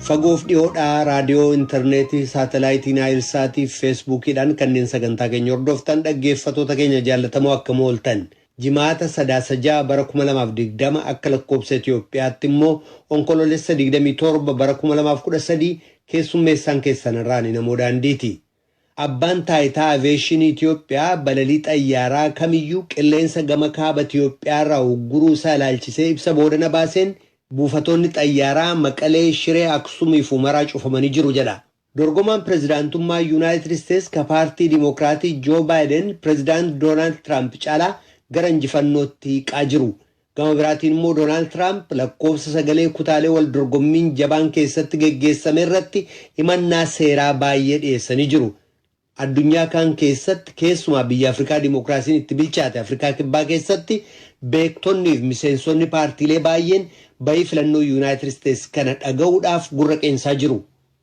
Fagoof dhiyoodhaa raadiyoo, interneetii, saatalaayitii Naayilsaatii fi Feesbuukiidhaan kanneen sagantaa keenya hordoftan dhaggeeffatoota keenya jaallatamoo akkam ooltan. Jimaata Sadaasa 6 bara 2020 akka lakkoobsa Itoophiyaatti immoo Onkoloolessa 27 bara 2013 keessummeessaan keessan irraan namoo daandiiti. Abbaan Taayitaa Aviyeeshinii Itiyoophiyaa balalii xayyaaraa kamiyyuu qilleensa gama Kaaba Itiyoophiyaarraa ugguruu isaa ilaalchisee ibsa boodana baaseen buufatoonni xayyaaraa Maqalee, Shiree, Aksumii fi Humaraa cufamanii jiru jedha. Dorgomaan pirezidaantummaa Yunaayitid Isteets ka paartii Dimookiraatii Joo Baayiden pirezidaant Doonaald Tiraamp caalaa gara injifannootti hiiqaa jiru. Gama biraatiin immoo Doonaald Tiraamp lakkoofsa sagalee kutaalee wal dorgommiin jabaan keessatti geggeessame irratti himannaa seeraa baayyee dhiyeessanii jiru. Addunyaa kaan keessatti keessumaa biyya Afrikaa dimokiraasiin itti bilchaate Afrikaa Kibbaa keessatti beektonni fi miseensonni paartiilee baayyeen ba'ii filannoo Yuunaayitid Isteets kana dhaga'uudhaaf gurra qeensaa jiru.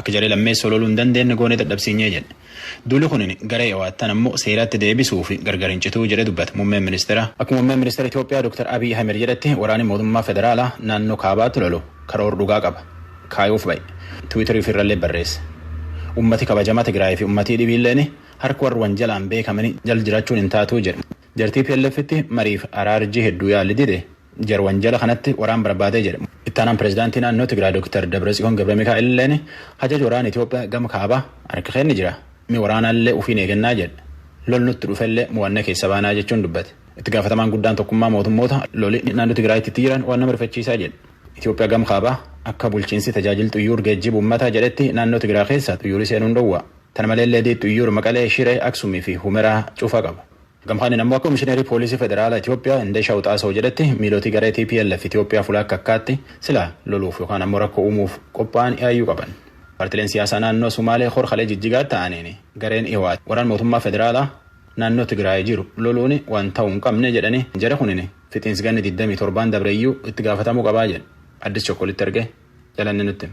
Akka jarii lammeessoo loluu hin dandeenne goonee dadhabsiinyee jedhe. Duuli kun garee Iwaattan ammoo seeratti deebisuu fi gargar hin cituu jedhe dubbate muummeen ministeeraa. Akka muummeen ministeera Itoophiyaa Dr. Abiy Ahimed jedhetti waraanii mootummaa federaalaa naannoo kaabaatti lolu karoor dhugaa qaba. Kaayoof bahe. Twitter ufi irrallee barreesse. Ummati kabajamaa Tigraay fi ummatii dhibiilleen harka warra wanjalaan beekamanii jal jiraachuun hin taatuu jedhe. Jar TPLFtti mariif araarjii hedduu yaali dide. Jarwanjala kanatti waraan barbaadee jedhe. Ittaanaan Pireezidaantii naannoo Tigraay Dooktar Dabratsiyoon Gabramikaa'el illeen hajaji waraana Itoophiyaa gama kaabaa harka keenna jira. Mi waraanaallee ufiin eegannaa jedhe. Lol nutti dhufellee mo'annee keessa baanaa jechuun dubbate. Itti gaafatamaan guddaan Tokkummaa Mootummootaa loli naannoo Tigraayitti itti jiran waan nama rifachiisaa jedhe. Itoophiyaa gama kaabaa akka bulchiinsi tajaajil xuyyuur geejjiba ummataa jedhetti naannoo Tigraay keessa xuyyuurii seenuun dhowwa. Tana maleellee D xuyyuur Maqalee, Shiree, Aksumii fi Humeraa cufa qaba. Gam kaaniin ammoo akka Komishineerii Poolisii Federaalaa Itoophiyaa Indeshaw Xaasaw jedhetti miiloti garee tplf Itoophiyaa fulaa akka akkaatti silaa loluuf yookaan ammoo rakkoo uumuuf qophaa'an yaayyuu qaban. Paartileen siyaasaa naannoo Sumaalee hor kalee jijjigaatti ta'aniin gareen Iwaat waraan mootummaa federaalaa naannoo Tigraay jiru loluun waan ta'uu hin qabne jedhanii jari kunin fixiinsi ganni 27n dabreyyuu itti gaafatamuu qabaa jedhe. Addis Chokkolitti erge jalanne nutti.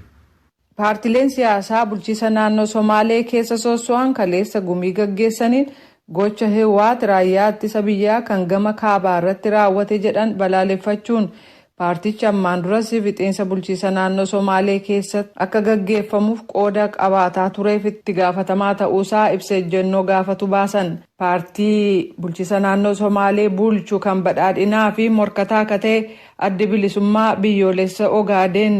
Paartileen siyaasaa bulchiisa naannoo Somaalee keessa soosso'an kaleessa gumii gaggeessaniin gocha Hiwwaat raayyaa ittisa biyyaa kan gama kaabaa irratti raawwate jedhan balaaleffachuun, paartichi ammaan duras fixiinsa bulchiisa naannoo Somaalee keessatti akka gaggeeffamuuf qooda qabaataa tureef itti gaafatamaa ta'uusaa ibsa ejjennoo gaafatu baasan. Paartii bulchiisa naannoo Somaalee bulchu kan Badhaadhinaa fi morkataa ka ta'e Addi Bilisummaa Biyyoolessa Ogaadeen,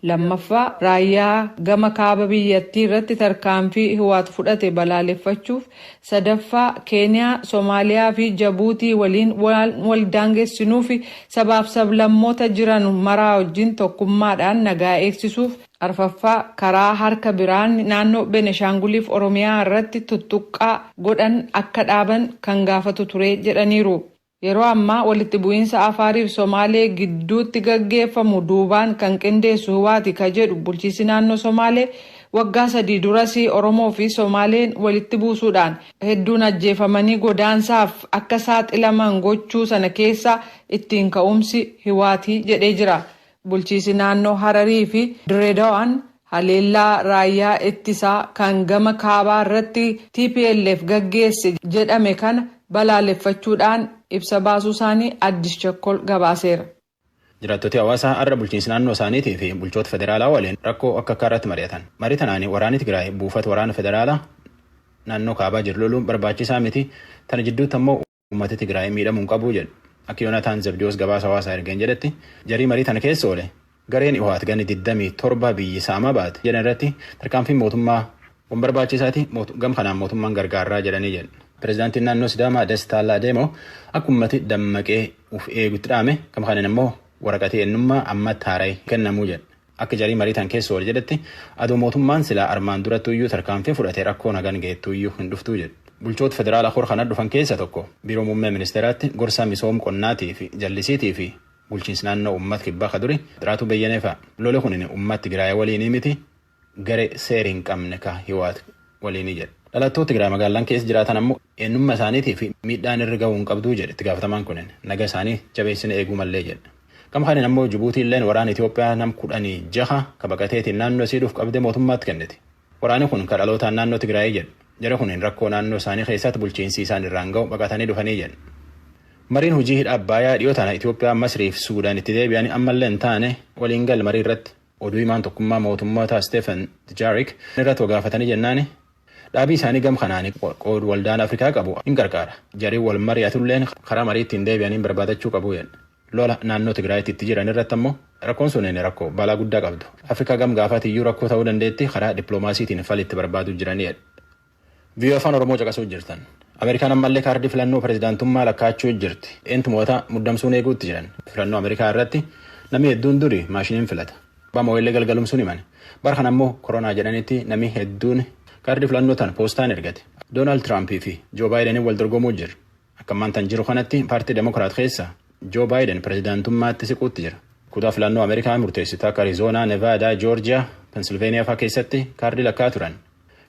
Lammaffaa, Raayyaa gama kaaba biyyattii irratti tarkaanfii Ihwaat fudhate balaaleffachuuf, sadaffaa, Keeniyaa, Somaaliyaa fi Jabuutii waliin waan wal daangessinuu fi sabaaf sablammoota jiran maraa wajjin tokkummaadhaan nagaa eegsisuuf, arfaffaa, karaa harka biraan naannoo Beneshaanguliif Oromiyaa irratti tuttuqqaa godhan akka dhaaban kan gaafatu ture jedhaniiru. Yeroo ammaa walitti bu'iinsa Afaarii fi Somaalee gidduutti gaggeeffamu duubaan kan qindeessu Hwaati ka jedhu bulchiinsi naannoo Somaalee, waggaa sadii duras Oromoo fi Somaaleen walitti buusuudhaan hedduun ajjeefamanii godaansaaf akka saaxilaman gochuu sana keessaa ittiin ka'umsi Hwaati jedhee jira. Bulchiisi naannoo Hararii fi Dirreedawaan haleellaa raayyaa ittisaa kan gama kaabaa irratti tplf gaggeesse jedhame kana balaaleffachuu dhaan ibsa baasuu isaanii Addis Chakkol gabaaseera. Jiraattoti hawaasaa har'a bulchiinsi naannoo isaaniitii fi bulchoota federaalaa waliin rakkoo akka akkaa irratti mari'atan. Marii tanaan waraani Tigraay buufata waraana federaalaa naannoo kaabaa jiru loluun barbaachisaa miti, tana jidduutti ammoo. uummati Tigraay miidhamuu hin qabu jedhu. Akka Yoonataan Zabdiyoos gabaasa hawaasaa ergeen jedhetti jarii marii tana keessa oole gareen Ihowaat ganni 27 biyyi saamaa baate jedhan irratti tarkaanfiin mootummaa waan barbaachisaati gam kanaan mootummaan gargaarraa jedhanii jedhu. Pireezidaantiin naannoo Sidaamaa Dastaa Laadeemoo akka uummati dammaqee uf eegutti dhaame gam kanaan ammoo waraqatii eenyummaa ammatti haara'e kennamuu jedhu. Akka jarii marii tan keessa oole jedhetti, adoo mootummaan silaa armaan durattuuyyuu tarkaanfii fudhate rakkoon hagan geettuuyyuu hin dhuftuu jedhe. Bulchoota federaalaa kor kana dhufan keessa tokko Biiroo Muummee Ministeeraatti gorsaa misoom qonnaatii fi jallisiitii fi bulchiinsi naannoo Uummat Kibbaa ka duri Xiraatuu Beyyenee fa'a. Loli kunin Uummat Tigraay waliinii miti garee seer hin qabne ka Hiwaat waliinii jedhe. Dhalattoot Tigraay magaallan keessa jiraatan ammoo eennumma isaaniitiif miidhaan irr gahuu hin qabduu jedhe itti gaafatamaan kunin. Naga isaanii jabeessine eeguu mallee jedhe. Gama kaaniin ammoo Jibuutiilleen waraana Itoophiyaa nam kudhanii jaha ka baqateetiin naannoo isii dhuuf qabdee mootummaatti kennite. Waraani kun ka dhalootaan naannoo Tigraayii jedha. Jari kun rakkoo naannoo isaanii keessaatti bulchiinsi isaan irraan gahu baqatanii dhufanii jedha. Mariin hujii hidha Abbaayaa dhiyoo tana Itoophiyaa, Masrii fi Suudaan itti deebi'anii ammallee hin taane waliin gal marii irratti. Oduu himaan tokkummaa mootummootaa Steefen Dujaarik irratti wa gaafatanii jennaani, Dhaabii isaanii gam kanaani qoodu waldaan Afrikaa qabu hin qarqaara. Jarii wal mari'atulleen karaa marii ittiin deebi'aniin barbaadachuu qabu jedhe. Lola naannoo Tigraayitti itti jiran irratti ammoo rakkoon sunin rakkoo balaa guddaa qabdu. Afrikaa gam gaafaatii iyyuu rakkoo ta'uu dandeetti karaa dippiloomaasiitiin fali itti barbaaduu jirani jedhe. VOA Afaan Oromoo caqasuu jirtan. Ameerikaan ammallee kaardii filannoo pirezidaantummaa lakkaa'achuu jirti. Eentu mo'ata muddamsuun eeguutti jiran. Filannoo Ameerikaa irratti namni hedduun duri maashiniin filata. Abbaan Mooyillee galgalum sun himan. Bara kana ammoo koronaa jedhanitti namni hedduun kaardii filannoo tan poostaan ergate. Doonaald Tiraampii fi Joo Baayideniin wal dorgomuu jira. Akka ammaan tan jiru kanatti paartii Demokiraat keessa Joo Baayiden pirezidaantummaatti siquutti jira. Kutaa filannoo Ameerikaa murteessitu akka Arizoonaa, Nevaadaa, Joorjiyaa, Pensilveeniyaa faa keessatti kaardii lakkaa turan.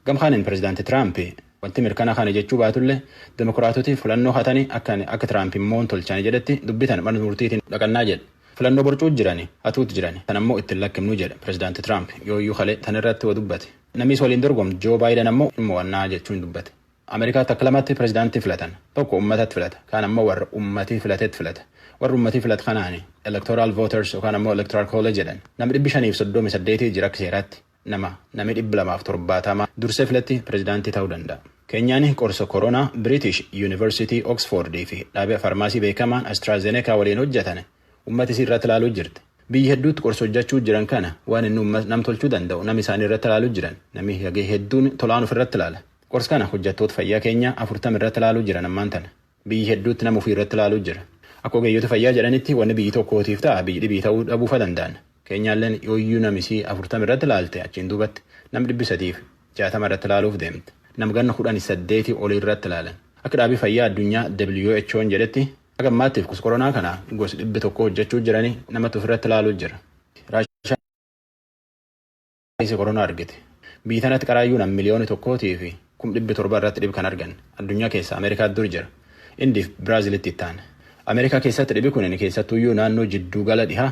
Gamkaaniin pirezidaanti Tiraampi wanti mirkana kana jechuu baatullee Demokiraatoti filannoo hatanii akka Tiraampi moon tolchani jedhetti dubbitan mana murtiitiin dhaqannaa jedhe. Filannoo borcuu jirani, hatuutti jirani, tan ammoo itti hin lakkimnu jedha Pirezidaanti Tiraamp. Yooyyuu kalee tan irratti wa dubbate. Namii isa waliin dorgomtu Joo Baayidan ammoo hin mo'anna jechuun dubbate. Amerikaatti akka lamatti pirezidaantii filatan. Tokko ummatatti filata. Kaan ammoo warra ummatii filatetti filata. Warri ummatii filatu kanaani electoral voters yookaan ammoo electoral college jedhan. Nam dhibbi shanii fi soddomii saddeetii jira akka seeraatti. Nama nami 270 dursee filatte pirezidaantii ta'uu danda'a. Keenyaan qorsa koronaa Biriitish Yuunivarsiitii Oksfoord fi dhaabia farmaasii beekamaan Astraazenekaa waliin hojjatan ummata isii irratti laaluu jirti. Biyyi hedduutti qorsa hojjachuu jiran kana waan inni ummat nam tolchuu danda'u nama isaanii irratti laaluu jiran. Nami hagee hedduun tolaan ufirratti laala. Qorsa kana hojjattoota fayyaa Keenyaa 40 irratti laaluu jiran ammaan tana. Biyyi hedduutti nama ufii irratti laaluu jira. Akka ogeeyyoti fayyaa jedhanitti wanni biyyi tokkootiif ta'a biyyi dhibii ta'uu dhabuu fa danda'an. Keenyaalleen yooyyuu nam isii afurtama irratti laalte achiin duubatti nam dhibbi sadiif jaatama irratti laaluuf deemti. Nam ganna kudhani saddeetii olii irratti laalan. Akka dhaabii fayyaa addunyaa WHOn jedhetti haga ammaattiif kos koronaa kana gosi dhibbi tokkoo hojjachuu jirani namatti ufirratti laaluu jira. Vaayirasii koronaa argite. Biyyi tanatti qaraayyuu nam miliyooni tokkootii fi kum dhibbi torba irratti dhib kan argan. Addunyaa keessa Ameerikaa dur jira. Indiif Biraazilitti ittaan. Ameerikaa keessatti dhibi kunin keessattuuyyuu naannoo jidduu gala dhihaa,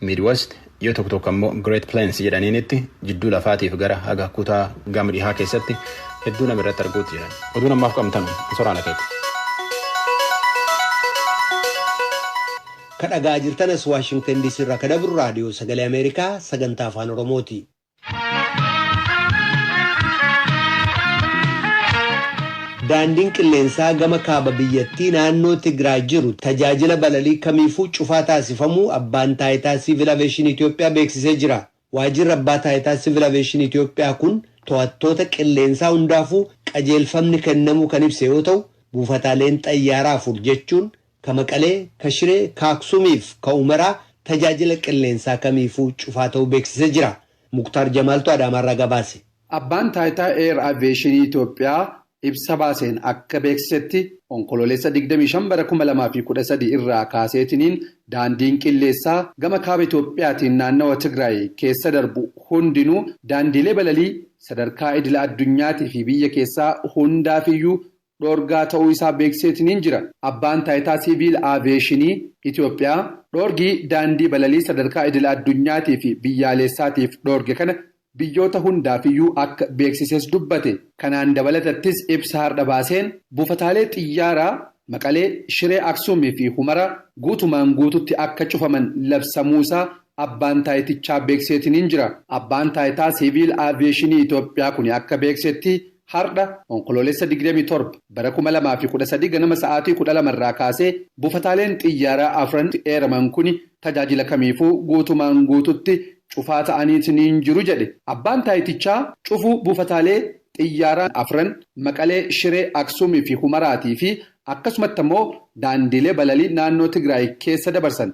Midwest, yoo tokko tokko ammoo Great Plains jedhaniinitti jidduu lafaatiif gara haga kutaa gama dhihaa keessatti hedduu nam irratti arguutti jiran. Oduun ammaaf qabnu tanu. Soraana keeti. Ka dhaga'aa jirtan as Waashingtan DC irraa ka dabru raadiyoo sagalee Ameerikaa sagantaa afaan Oromooti. Daandiin qilleensaa gama kaaba biyyattii naannoo Tigraay jiru tajaajila balalii kamiifuu cufaa taasifamuu abbaan taayitaa siivil aveeshinii Itoophiyaa beeksisee jira. Waajjirri Abbaa Taayitaa Sivil Aveeshinii Itiyoophiyaa kun to'attoota qilleensaa hundaafuu qajeelfamni kennamuu kan ibse yoo ta'u, buufataaleen xayyaaraa afur jechuun ka Maqalee, ka Shiree, ka Aksuumii fi ka Umeraa tajaajila qilleensaa kamiifuu cufaa ta'uu beeksisee jira. Muktaar Jamaaltu Adaamaarraa gabaase. Abbaan Taayitaa Eer Aveeshinii Itiyoophiyaa ibsa baaseen akka beeksisetti, Onkoloolessa 25 bara 2013 irraa kaaseetiniin daandiin qilleessaa gama kaaba Itoophiyaatiin naannawa Tigraay keessa darbu hundinuu daandiilee balalii sadarkaa idila addunyaatii fi biyya keessaa hundaafiyyuu dhoorgaa ta'uu isaa beeksiseetiniin jira. Abbaan Taayitaa Siiviil Aaviyeeshinii Itoophiyaa dhoorgii daandii balalii sadarkaa idila addunyaatii fi biyyaaleessaatiif dhoorge kana biyyoota hundaafiyyuu akka beeksises dubbate. Kanaan dabalatattis ibsa hardha baaseen, buufataalee xiyyaaraa Maqalee, Shiree Aksuum fi Humaraa guutumaan guututti akka cufaman labsamuu isaa Abbaan Taayitichaa beekseetiniin jira. Abbaan Taayitaa Siiviil Aviyeeshinii Itoophiyaa kuni akka beeksetti, Hardha Onkoloolessa 27 bara 2013 ganama sa'aatii 12:00 irraa kaasee buufataaleen xiyyaaraa afran itti eeraman kuni tajaajila kamiifuu guutumaan guututti cufaa ta'aniitiniin jiru jedhe Abbaan Taayitichaa cufuu buufataalee xiyyaaraa afran Maqalee, Shiree, Aksuum fi Humaraati fi akkasumatti ammoo daandiilee balalii naannoo Tigraay keessa dabarsan.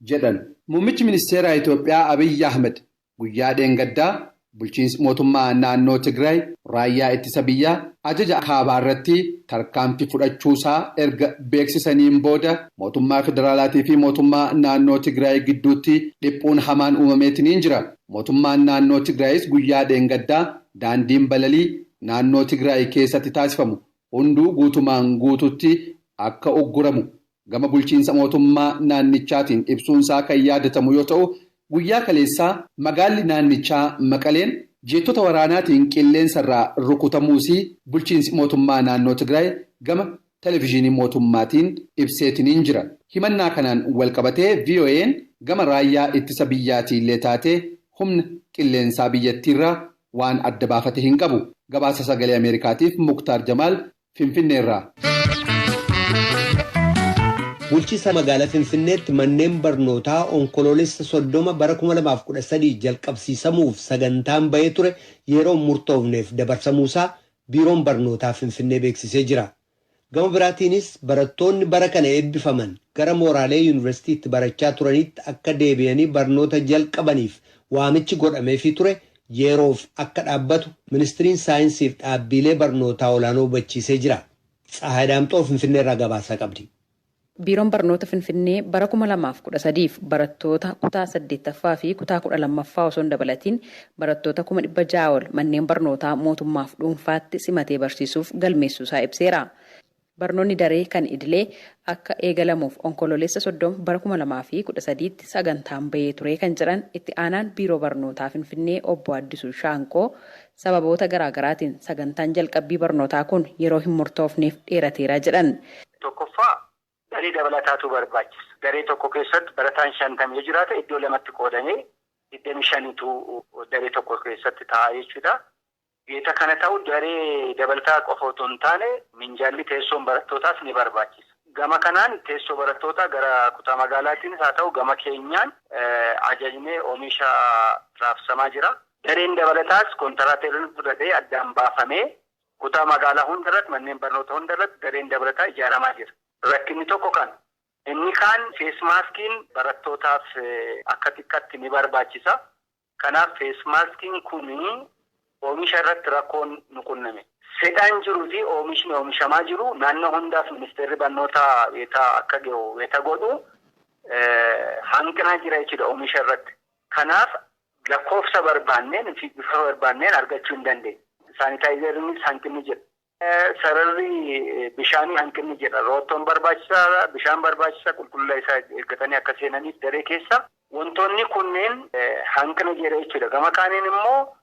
jedhan. Muummichi Ministeera Itoophiyaa Abiyyi Ahmad guyyaa dheengaddaa Bulchiinsi Mootummaa Naannoo Tigraay Raayyaa Ittisa Biyyaa Ajaja Kaabaa irratti tarkaanfii fudhachuusaa erga beeksisaniin booda Mootummaa Federaalaatii fi Mootummaa Naannoo Tigraay gidduutti dhiphuun hamaan uumameetiniin jira. Mootummaan Naannoo Tigraayis guyyaa dheengaddaa daandiin balalii Naannoo Tigraay keessatti taasifamu hunduu guutumaan guutuutti akka ugguramu gama bulchiinsa mootummaa naannichaatiin ibsuunsaa kan yaadatamu yoo ta'u, guyyaa kaleessaa magaalli naannichaa Maqaleen jeettota waraanaatiin qilleensarraa rukutamuusii bulchiinsi mootummaa naannoo Tigraay gama Televizhiinii mootummaatiin ibseetiniin jira. Himannaa kanaan walqabatee VOAn gama raayyaa ittisa biyyaatiillee taatee humna qilleensaa biyyattiirraa waan adda baafate hin qabu. Gabaasa Sagalee Ameerikaatiif Muktaar Jamaal Finfinneerraa. Bulchiisa Magaalaa Finfinneetti manneen barnootaa Onkoloolessa 30 bara 2013 jalqabsiisamuuf sagantaan bahee ture yeroo hin murtoofneef dabarsamuusaa Biiroon Barnootaa Finfinnee beeksisee jira. Gama biraatiinis barattoonni bara kana eebbifaman gara mooraalee Yuunivarsiitii itti barachaa turaniitti akka deebi'anii barnoota jalqabaniif waamichi godhameefii ture yeeroof akka dhaabbatu Ministriin Saayinsiif dhaabbiilee barnootaa olaanoo hubachiisee jira. Tsahaay Daamxoo Finfinneerraa gabaasaa qabdi. Biiroon Barnoota Finfinnee bara 2013f barattoota kutaa 8ffaa fi kutaa 12ffaa osoo hin dabalatiin barattoota kuma 600 ol manneen barnootaa mootummaaf dhuunfaatti simatee barsiisuuf galmeessuusaa ibseera. Barnoonni daree kan idilee akka eegalamuuf Onkoloolessa 30 bara 2013tti sagantaan bahee turee kan jedhan Itti Aanaan Biiroo Barnootaa Finfinnee Obbo Addisuu Shaanqoo, sababoota garaa garaatiin sagantaan jalqabbii barnootaa kun yeroo hin murtoofneef dheerateera jedhan. Tokkoffaa, daree dabalataatu barbaachisa. Daree tokko keessatti barataan 50 yoo jiraate iddoo lamatti qoodamee 25tu daree tokko keessatti taa'a jechuudha. Wayita kana ta'u daree dabalataa qofa otoo hin taane minjaalli teessoon barattootaas ni barbaachisa. Gama kanaan teessoo barattootaa gara kutaa magaalaatiinis haa ta'u gama keenyaan ajajnee omisha raabsamaa jira. Dareen dabalataas kontaraateroonni fudhatee addaan baafamee kutaa magaalaa hundarratti manneen barnoota hundarratti dareen dabalataa ijaaramaa jira. Rakkinni tokko kana. Inni kaan feesmaaskiin barattootaaf akka xiqqatti ni barbaachisa. Kanaaf feesmaaskiin kun oomisha irratti rakkoon nu qunname. Fedhaan jiru fi oomishni oomishamaa jiru naannoo hundaaf ministeerri barnootaa wayita akka gahu wayita godhu hanqinaa jira jechuudha oomisha irratti. Kanaaf lakkoofsa barbaanneen fi bifa barbaanneen argachuu hin dandeenye. Saanitaayizeriinis hanqinni jira. Sararri bishaanii hanqinni jira. Roottoon barbaachisaadha. Bishaan barbaachisa. Qulqullina isaa eeggatanii akka seenaniif daree keessa. Wantoonni kunneen hanqina jira jechuudha. Gama kaaniin immoo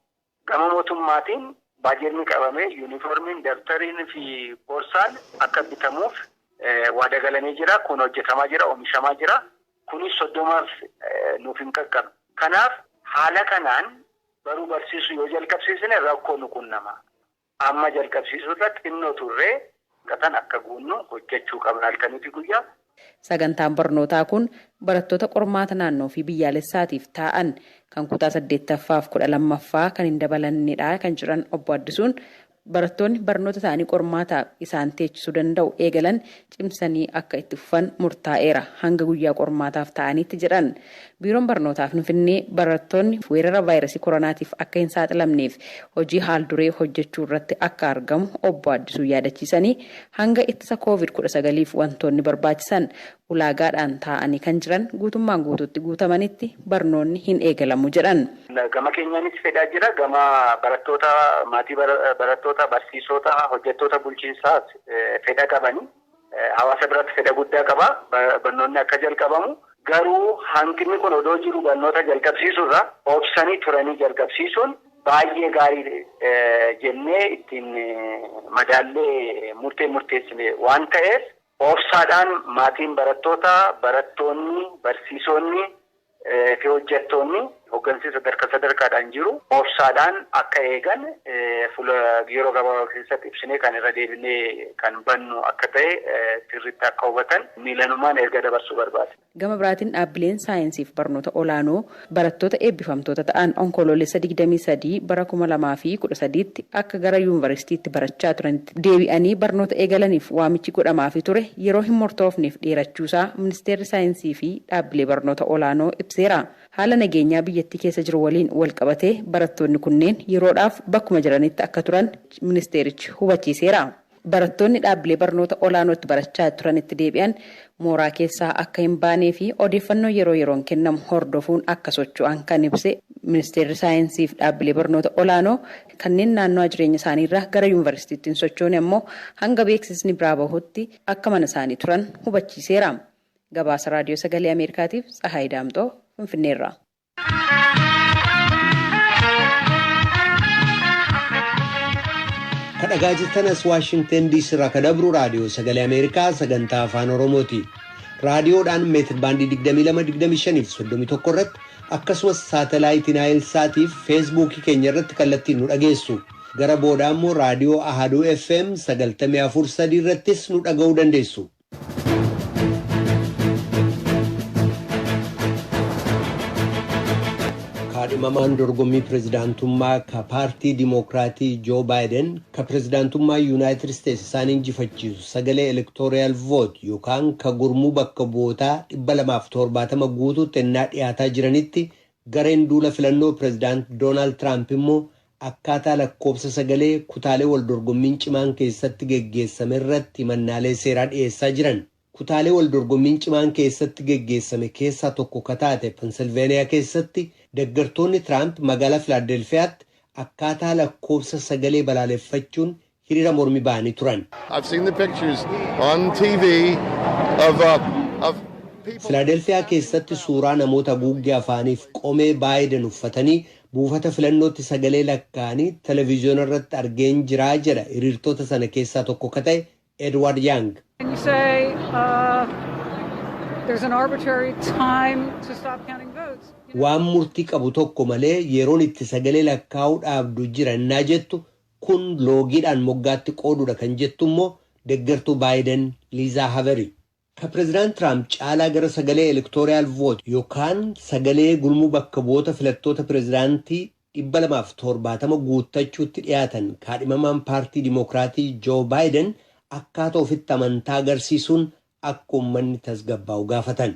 gama mootummaatiin baajetni qabamee yuunifoormiin, dabtariin fi borsaan akka bitamuuf waada galamee jira. Kun hojjetamaa jira, oomishamaa jira. Kunis soddomaaf nuuf hin qaqqabne. Kanaaf haala kanaan baruu barsiisuu yoo jalqabsiisne rakkoo nu qunnama. Amma jalqabsiisuu irra xinnoo turre, gatan akka guunnu hojjechuu qabna halkanii fi guyyaa. Sagantaan barnootaa kun barattoota qormaata naannoo fi biyyaalessaatiif taa'an kan kutaa 8ffaa fi 12ffaa kan hin dabalannedha kan jedhan Obbo Addisuun, barattoonni barnoota isaanii qormaataaf isaan teechisuu danda'u eegalan cimsanii akka itti fufan murtaa'eera hanga guyyaa qormaataaf taa'aniitti jedhan. Biiroon Barnootaa Finfinnee barattoonni weerara vaayrasii koronaatiif akka hin saaxilamneef hojii haal duree hojjechuu irratti akka argamu obbo Addisuun yaadachiisanii, hanga ittisa Kooviid 19f wantoonni barbaachisan ulaagaadhaan taa'anii kan jiran guutummaan guutuutti guutamanitti barnoonni hin eegalamu jedhan. Gama keenyaanis fedhaa jira. Gama barattoota, maatii barattoota, barsiisota, hojjettoota bulchiinsaas fedha qabani. Hawaasa biratti fedha guddaa qaba. Barnoonni akka jalqabamu. Garuu hanqinni kun odoo jiru barnoota jalqabsiisuu irra obsanii turanii jalqabsiisuun baay'ee gaarii jennee ittiin madaallee murtee murteessine waan ta'eef obsaadhaan maatiin barattootaa, barattoonni, barsiisonni fi hojjattoonni hoggansii sadarka sadarkaadhaan jiru obsaadhaan akka eegan fula yeroo gabaaba keessatti ibsinee kan irra deebinee kan bannu akka ta'e sirritti akka hubatan miilanumaan erga dabarsuu barbaada. Gama biraatiin dhaabbileen saayinsii fi barnoota olaanoo barattoota eebbifamtoota ta'an Onkoloolessa 23 bara 2013tti akka gara yuunvarsiitiitti barachaa turanitti deebi'anii barnoota eegalaniif waamichi godhamaafii ture yeroo hin mortoofneef dheerachuusaa Ministeerri Saayinsii fi Dhaabbilee Barnoota Olaanoo ibseera. Haala nageenyaa biyyattii keessa jiru waliin walqabatee barattoonni kunneen yeroodhaaf bakkuma jiranitti akka turan ministeerichi hubachiiseera. Barattoonni dhaabbilee barnoota olaanootti barachaa turanitti deebi'an mooraa keessaa akka hin baanee fi odeeffannoo yeroo yeroon kennamu hordofuun akka socho'an kan ibse Ministeerri Saayinsii fi Dhaabbilee Barnoota Olaanoo kanneen naannoo jireenya isaaniirraa gara Yuunvarsiitiitti hin sochoone ammoo hanga beeksisni biraa bahutti akka mana isaanii turan hubachiiseera. Gabaasa Raadiyoo Sagalee Ameerikaatiif Tsahaay Daamxoo Finfinneerraa. kadhagaa jirtanas waashingten diisii irraa ka dabru raadiyoo sagalee ameerikaa sagantaa afaan oromooti raadiyoodhaan meetir baandii 2225 irratti akkasumas saatalaayitii naayil saatiif feesbuukii keenya irratti kallattiin nu dhageessu gara booda immoo raadiyoo ahaduu fm 94.3 irrattis nu dhaga'uu dandeessu. kaadhimamaan dorgommii pirezidaantummaa ka paartii dimookiraatii joo baayiden ka pirezidaantummaa yuunaayitid isteetsi isaan injifachiisu sagalee elektooriyaal voot yookaan ka gurmuu bakka bu'ootaa 270 guutuutti ennaa dhiyaataa jiranitti gareen duula filannoo pirezidaant doonaald tiraamp immoo akkaataa lakkoofsa sagalee kutaalee waldorgommiin cimaan keessatti geggeessame irratti himannaalee seeraa dhiyeessaa jiran. Kutaalee waldorgommiin cimaan keessatti geggeessame keessaa tokko ka taate Pennsylvania keessatti deggertoonni Tiraamp magaalaa Filaadelfiyaatti akkaataa lakkoofsa sagalee balaaleffachuun hirira mormi bahani turan. I've seen the pictures on TV of uh, of people. Filaadelfiyaa keessatti suuraa namoota haguuggee afaaniif qomee Baayiden uffatanii buufata filannootti sagalee lakkaa'anii televiziyoona irratti argeen jiraa jedha hiriirtota sana keessaa tokko ka ta'e Edward Young. And you say uh, there's an arbitrary time to stop counting votes. You know, Waan murtii qabu tokko malee yeroon itti sagalee lakkaa'uu dhaabdu jira innaa jettu Kun loogiidhaan moggaatti qooduudha kan jettu immoo deggertuu Baayiden Liizaa Haveri. Ka Pirezidant Tiraamp caalaa gara sagalee electoreal vote yookaan sagalee gurmuu bakka bu'oota filattoota pirezidaantii 270 guuttachuutti dhiyaatan kaadhimamaan paartii Dimookiraatii Joo Baayiden akkaata ofitti amantaa agarsiisuun akka ummanni tasgabbaa'u gaafatan.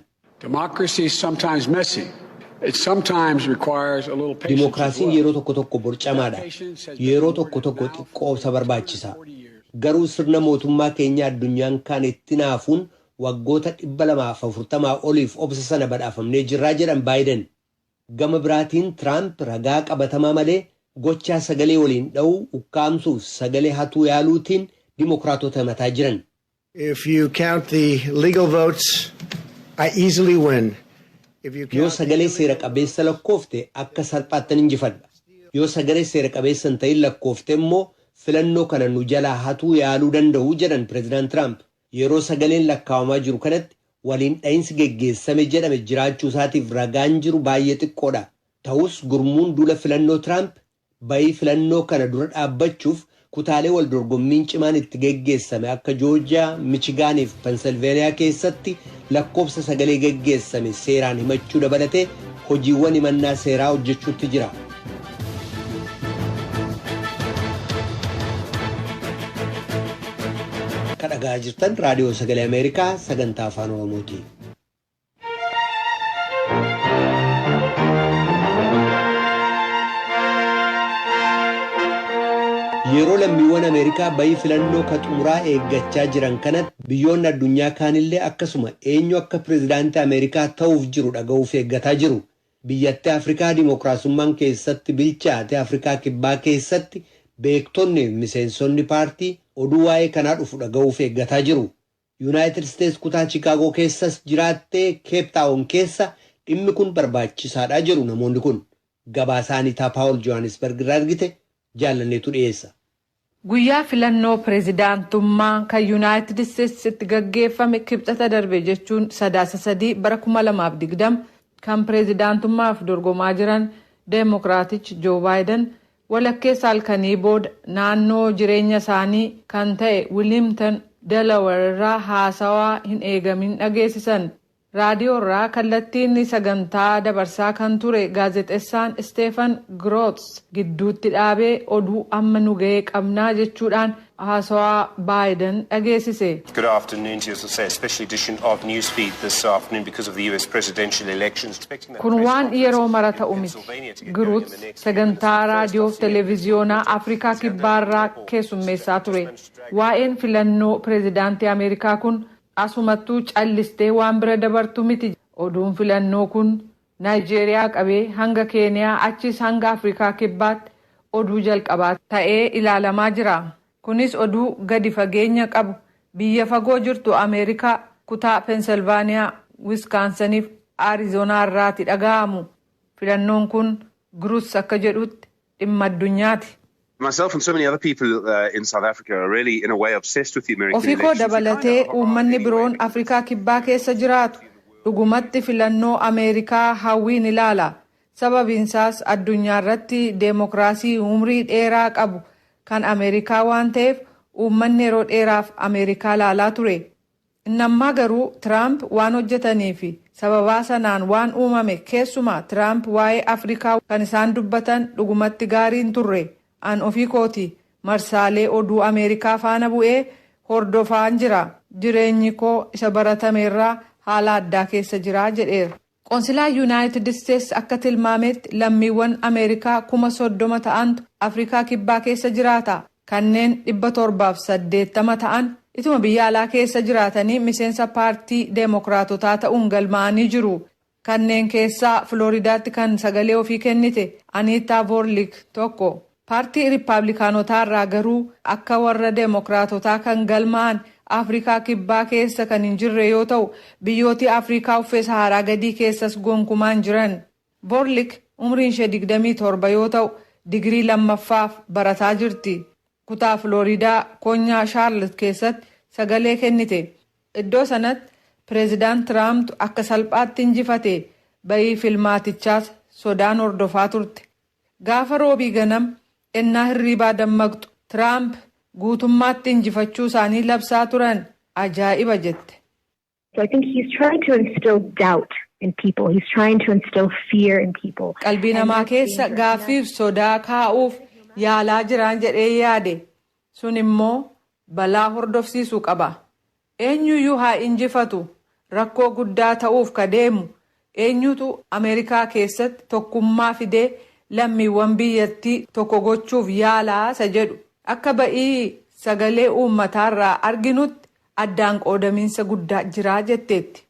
Dimookiraasiin yeroo tokko tokko borcamaadha. Yeroo tokko tokko xiqqoo obsa barbaachisa. Garuu sirna mootummaa keenyaa addunyaan kaan itti hinaafuun waggoota 240 oliif obsa sana badhaafamnee jirra jedhan Baayiden. Gama biraatiin Tiraamp ragaa qabatamaa malee gochaa sagalee waliin dha'uu, ukkaamsuuf sagalee hatuu yaaluutiin Dimookiraatota himataa jiran. If you count the legal votes, I easily win. If you Yoo count the sagalee seera illegal qabeessa votes, lakkoofte akka salphaattan injifadha. Yoo sagalee seera qabeessa hin ta'in lakkoofte immoo filannoo kana nu jalaa hatuu yaaluu danda'u jedhan Pireezidaant Tiraamp yeroo sagaleen lakkaawamaa jiru kanatti waliin dha'insi geggeessame jedhame jiraachuu isaatiif ragaan jiru baay'ee xiqqoodha. Ta'us gurmuun duula filannoo Tiraamp Bayii filannoo kana dura dhaabbachuuf kutaalee waldorgommiin cimaan itti geggeessame akka Joorjiyaa, Michigaan fi Penselveeniyaa keessatti lakkoofsa sagalee geggeessame seeraan himachuu dabalatee hojiiwwan himannaa seeraa hojjechuutti jira. Kan dhaga'aa jirtan Raadiyoo Sagalee Ameerikaa sagantaa Afaan Oromooti. Yeroo lammiiwwan Ameerikaa bayii filannoo ka xumuraa eeggachaa jiran kanatti biyyoonni addunyaa kaanillee akkasuma eenyu akka pirezidaantii Ameerikaa ta'uuf jiru dhaga'uuf eeggataa jiru. Biyyattii Afrikaa dimookiraasummaan keessatti bilchaate Afrikaa Kibbaa keessatti beektonni fi miseensonni paartii oduu waa'ee kanaa dhufu dhaga'uuf eeggataa jiru. Yunaayitid Isteets kutaa Chikaagoo keessas jiraatte Keep Taawon keessa dhimmi kun barbaachisaadha jedhu namoonni kun. Gabaasaa Aniitaa Paawol Johaanisbarg irraa ergite Jaallanneetu dhiyeessa. Guyyaa filannoo pirezidaantummaa kan Yunaayitid Isteets itti gaggeeffame Kibxata darbe jechuun Sadaasa 3 bara 2020 kan pirezidaantummaaf dorgomaa jiran Demokiraatich Joo Baayidan Walakkeessa halkanii booda naannoo jireenya isaanii kan ta'e Wiliimtan, Delaware irraa haasawaa hin eegamin dhageesisan. Raadiyoo irraa kallattiin sagantaa dabarsaa kan ture gaazexessaan Steefan Groots gidduutti dhaabee oduu amma nu ga'e qabna jechuudhaan haasawaa Baayiden dhageesise. Good afternoon to you. As I say, a special edition of Newsfeed this afternoon because of the US presidential elections. Expecting that Kun press waan conference yeroo mara in ta'u miti. Pennsylvania to get going in the Giruuts next few minutes. sagantaa First, raadiyoo I'll fi see you at televiziyoonaa 10:40. Afrikaa Let's have that Kibbaarraa report. keessummeessaa ture. Just managed to drag it. Waa'een filannoo pirezidaantii Ameerikaa kun asumattuu callistee waan bira dabartu miti. Oduun filannoo kun Naayijeeriyaa qabee hanga Keeniyaa achiis hanga Afrikaa Kibbaatti oduu jalqabaa ta'ee ilaalamaa jira. Kunis oduu gadi fageenya qabu biyya fagoo jirtu Ameerikaa kutaa Penselvaaniyaa, Wiskaansaniif Arizonaa irraati dhaga'amu. Filannoon kun Grutz akka jedhutti dhimma addunyaati. Myself and so many other people in South Africa are really in a way obsessed with the American Ofii koo elections. We kind dabalatee of are uummanni anyway. biroon Afrikaa Kibbaa keessa jiraatu dhugumatti filannoo Ameerikaa hawwiin ilaala. Sababiinsaas addunyaarratti deemokiraasii umrii dheeraa qabu kan Ameerikaa waan ta'eef uummanni yeroo dheeraaf Ameerikaa ilaalaa ture. Inni ammaa garuu Tiraamp waan hojjetanii fi sababaa sanaan waan uumame keessumaa Tiraamp waa'ee Afrikaa kan isaan dubbatan dhugumatti gaarii hin turre. An ofii kootii marsaalee oduu Ameerikaa faana bu'ee hordofaan jira. Jireenyi koo isa baratame irraa haala addaa keessa jira, jedheera. Qonsilaa Yunaayitid Isteets akka tilmaameetti lammiiwwan Ameerikaa kuma 30 ta'antu Afrikaa Kibbaa keessa jiraata. Kanneen 780 ta'an ituma biyya alaa keessa jiraatanii miseensa paartii Deemokiraatotaa ta'uun galmaa'anii jiru. Kanneen keessaa Filooridaatti kan sagalee ofii kennite Aniittaa Voorliik tokko. Paartii Rippaablikaanotaa irraa garuu akka warra Demokraatotaa kan galmaa'an Afrikaa Kibbaa keessa kan hin jirre yoo ta'u, biyyootii Afrikaa uffee Sahaaraa gadii keessas gonkumaa hin jiran. Vorlik umriin ishee 27 yoo ta'u, digirii lammaffaaf barataa jirti. Kutaa Filooriidaa konyaa Shaarlot keessatti sagalee kennite. Iddoo sanatti Pireezidaant Tiraamtu akka salphaatti injifate, ba'ii filmaatichaas sodaan hordofaa turte. Gaafa Roobii ganam ennaa hirriibaa dammaqxu Tiraamp guutummaatti injifachuu isaanii labsaa turan. Ajaa'iba jette. So I think he's trying to instill doubt in people, he's trying to instill fear in people. Qalbii And namaa that's keessa dangerous. gaaffii fi sodaa kaa'uuf yaalaa jiraan jedhee yaade. Sun immoo balaa hordofsiisu qaba. Eenyuyyuu haa injifatu rakkoo guddaa ta'uuf ka deemu eenyutu Ameerikaa keessatti tokkummaa fidee lammiiwwan biyyattii tokko gochuuf yaala isa jedhu akka ba'ii sagalee uummataarraa arginutti addaan qoodamiinsa guddaa jira jetteetti.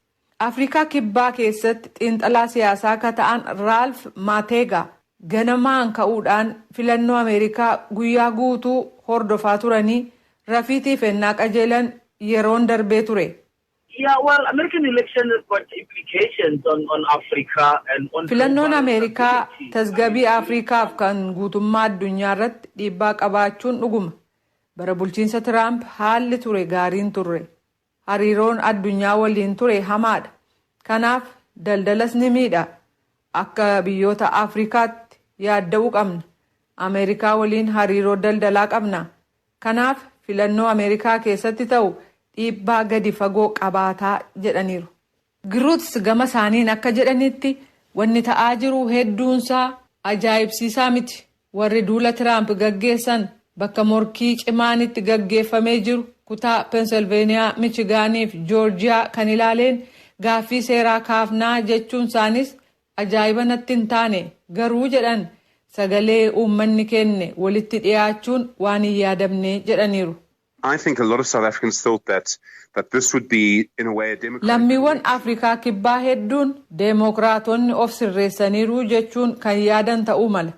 Afrikaa Kibbaa keessatti xiinxalaa siyaasaa ka ta'an Raalf Maateegaa ganamaan ka'uudhaan filannoo Ameerikaa guyyaa guutuu hordofaa turanii rafiitiif ennaa qajeelan yeroon darbee ture. Filannoon Ameerikaa tasgabii Afrikaaf kan guutummaa addunyaa irratti dhiibbaa qabaachuun dhuguma. Bara bulchiinsa Tiraamp haalli ture gaarii hin turre. Hariiroon addunyaa waliin ture hamaadha. Kanaaf daldalas ni miidha. Akka biyyoota Afrikaatti yaadda'uu qabna. Ameerikaa waliin hariiroo daldalaa qabna. Kanaaf filannoo Ameerikaa keessatti ta'u dhiibbaa gadi fagoo qabaataa jedhaniiru. Giruuts gama isaaniin akka jedhanitti, wanni ta'aa jiru hedduunsaa ajaa'ibsiisaa miti. Warri duula Tiraamp gaggeessan bakka morkii cimaan itti gaggeeffamee jiru kutaa Penselveeniyaa, Michigaanii fi Joorjiyaa kan ilaaleen gaaffii seeraa kaafnaa jechuun isaaniis ajaa'iba natti hin taane. Garuu jedhan sagalee uummanni kenne walitti dhiyaachuun waan hin yaadamne jedhaniiru. Lammiiwwan Afrikaa Kibbaa hedduun Demookiraatonni of sirreessaniiru jechuun kan yaadan ta'uu mala.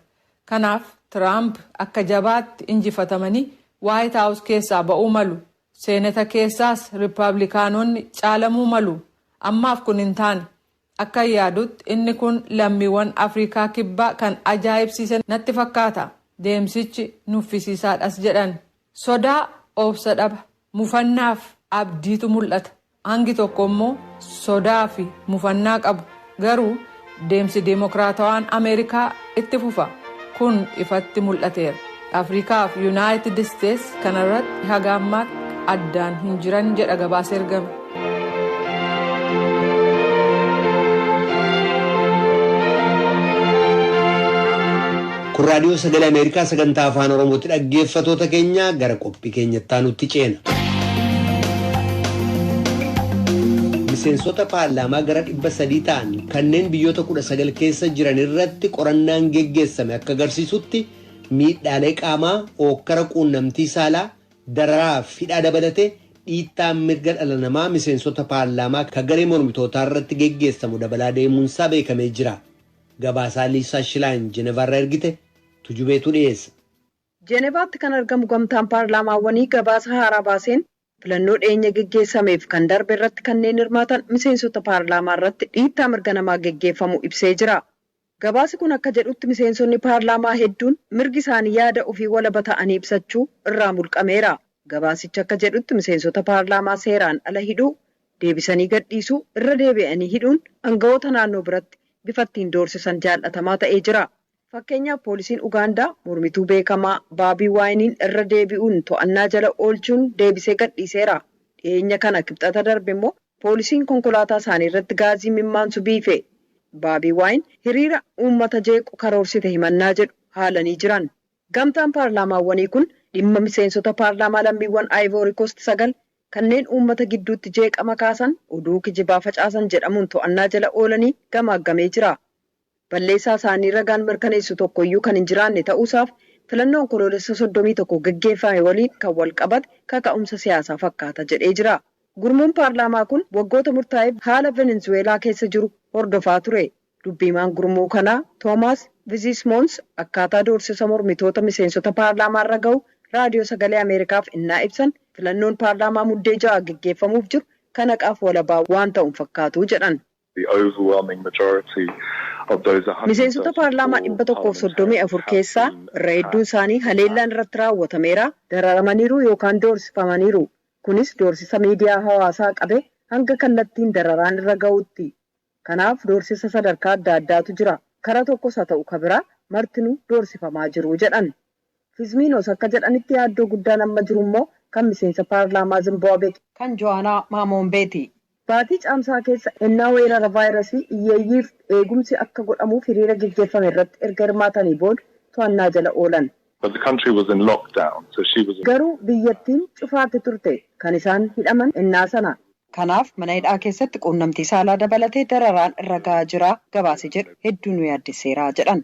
Kanaaf Tiraamp akka jabaatti injifatamanii Waayit Haawus keessaa ba'uu malu. Seeneta keessaas Rippaablikaanonni caalamuu malu. Ammaaf kun hin taane. Akkan yaadutti inni kun lammiiwwan Afriikaa Kibbaa kan ajaa'ibsiise natti fakkaata. Deemsichi nuffisiisaadhas jedhan. Sodaa, obsa dhaba, mufannaaf abdiitu mul'ata. Hangi tokko immoo sodaafi mufannaa qabu. Garuu deemsi deemokiraatawaan Ameerikaa itti fufa. Kun ifatti mul'ateera. Afrikaa fi Yunaayitid Isteets kana irratti haga ammaatti addaan hin jiran jedha gabaasa ergame. Kun raadiyoo sagalee Ameerikaa sagantaa afaan Oromootti dhaggeeffatoota keenya gara qophii keenyatti aanutti ceena. Miseensota paarlaamaa gara dhibba sadii ta'an Kanneen biyyoota 19 keessa jiran irratti qorannaan geggeessame akka agarsiisutti miidhaalee qaamaa, ookkara quunnamtii saalaa, dararaa fi hidhaa dabalatee dhiittaan mirga dhala namaa miseensota paarlaamaa ka garee mormitootaa irratti geggeessamu dabalaa deemuunsaa beekamee jira. Gabaasaa Liisaa Shilaayin Jenevaarraa ergite Tujubeetu dhiyeessa. Jenevaatti kan argamu Gamtaan Paarlaamaawwanii gabaasa haaraa baaseen Filannoo dhiyeenya geggeessameef kan darbe irratti kanneen hirmaatan miseensota paarlaamaa irratti dhiittaa mirga namaa geggeeffamu ibsee jira. Gabaasi kun akka jedhutti miseensonni paarlaamaa hedduun mirgi isaanii yaada ofii walaba ta'anii ibsachuu irraa mulqameera. Gabaasichi akka jedhutti miseensota paarlaamaa seeraan ala hidhuu, deebisanii gadhiisuu, irra deebi'anii hidhuun angawoota naannoo biratti bifa ittiin doorsisan jaal'atamaa ta'ee jira. Fakkeenyaaf poolisiin Ugaandaa mormituu beekamaa Baabii Waayiniin irra deebi'uun to'annaa jala oolchuun deebisee gadhiiseera. Dhiheenya kana Kibxata darbe immoo poolisiin konkolaataa isaanii irratti gaazii mimmaansu biife. Baabii Waayin hiriira uummata jeequ karoorsite himannaa jedhu haalanii jiran. Gamtaan paarlaamaawwanii kun dhimma miseensota paarlaamaa lammiiwwan Ayivoorikoost sagal kanneen uummata gidduutti jeeqama kaasan, oduu kijibaa facaasan jedhamuun to'annaa jala oolanii gamaaggamee jira. balleessaa isaanii ragaan mirkaneessu tokko iyyuu kan hin jiraanne ta'uu isaaf filannoo Onkoloolessa 31 geggeeffame waliin kan wal qabate kaka'umsa siyaasaa fakkaata jedhee jira. Gurmuun paarlaamaa kun waggoota murtaa'eef haala Venenzuweelaa keessa jiru hordofaa ture. Dubbi himaan gurmuu kanaa Toomaas Viziismoons akkaataa doorsisa mormitoota miseensota paarlaamaa irra gahu Raadiyoo Sagalee Ameerikaaf ennaa ibsan filannoon paarlaamaa Muddee 6 geggeeffamuuf jiru kan haqaaf walabaa waan ta'u hin fakkaatu jedhan. Miseensota paarlaamaa 134 keessaa irra hedduun isaanii haleellaan irratti raawwatameera, dararamaniiru yookaan doorsifamaniiru. Kunis doorsisa miidiyaa hawaasaa qabee hanga kallattiin dararaan irra ga'uutti. Kanaaf doorsisa sadarkaa adda addaatu jira. Kara tokkos haa ta'u ka biraa martinuu doorsifamaa jiru, jedhan. Fizmiinos akka jedhanitti yaaddoo guddaan amma jiru immoo kan miseensa paarlaamaa Zimbaabwee kan Jo'aanaa Maamoombeeti. Baatii Caamsaa keessa ennaa weerara vaayirasii iyyeeyyiif eegumsi akka godhamuuf hiriira geggeeffame irratti erga hirmaatanii booda to'annaa jala oolan. Garuu biyyattiin cufaatti turte. Kan isaan hidhaman ennaa sana. Kanaaf mana hidhaa keessatti quunnamtii saalaa dabalatee dararaan irra gahaa jira gabaasi jedhu hedduu nu yaaddesseera, jedhan.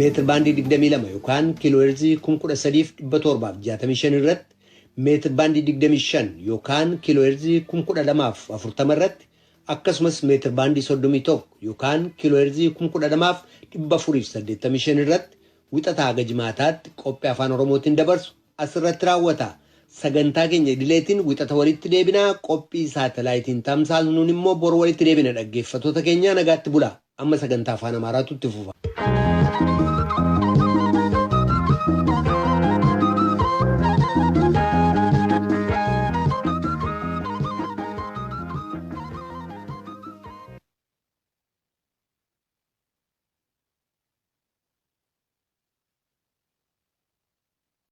meetir baandii 22 yookaan kiilooheerzii 13,765 irratti meetir baandii 25 yookaan kiilooheerzii 12,040 irratti akkasumas meetir baandii 31 yookaan kiilooheerzii 12,485 irratti wixataa haga jimaataatti qophii afaan oromootiin dabarsu asirratti raawwata. Sagantaa keenya idileetiin wixata walitti deebinaa qophii saatalaayitiin tamsaasnuun immoo bor walitti deebina dhaggeeffatoota keenyaa nagaatti bulaa. Amma sagantaa afaan Amaaraatu itti fufa.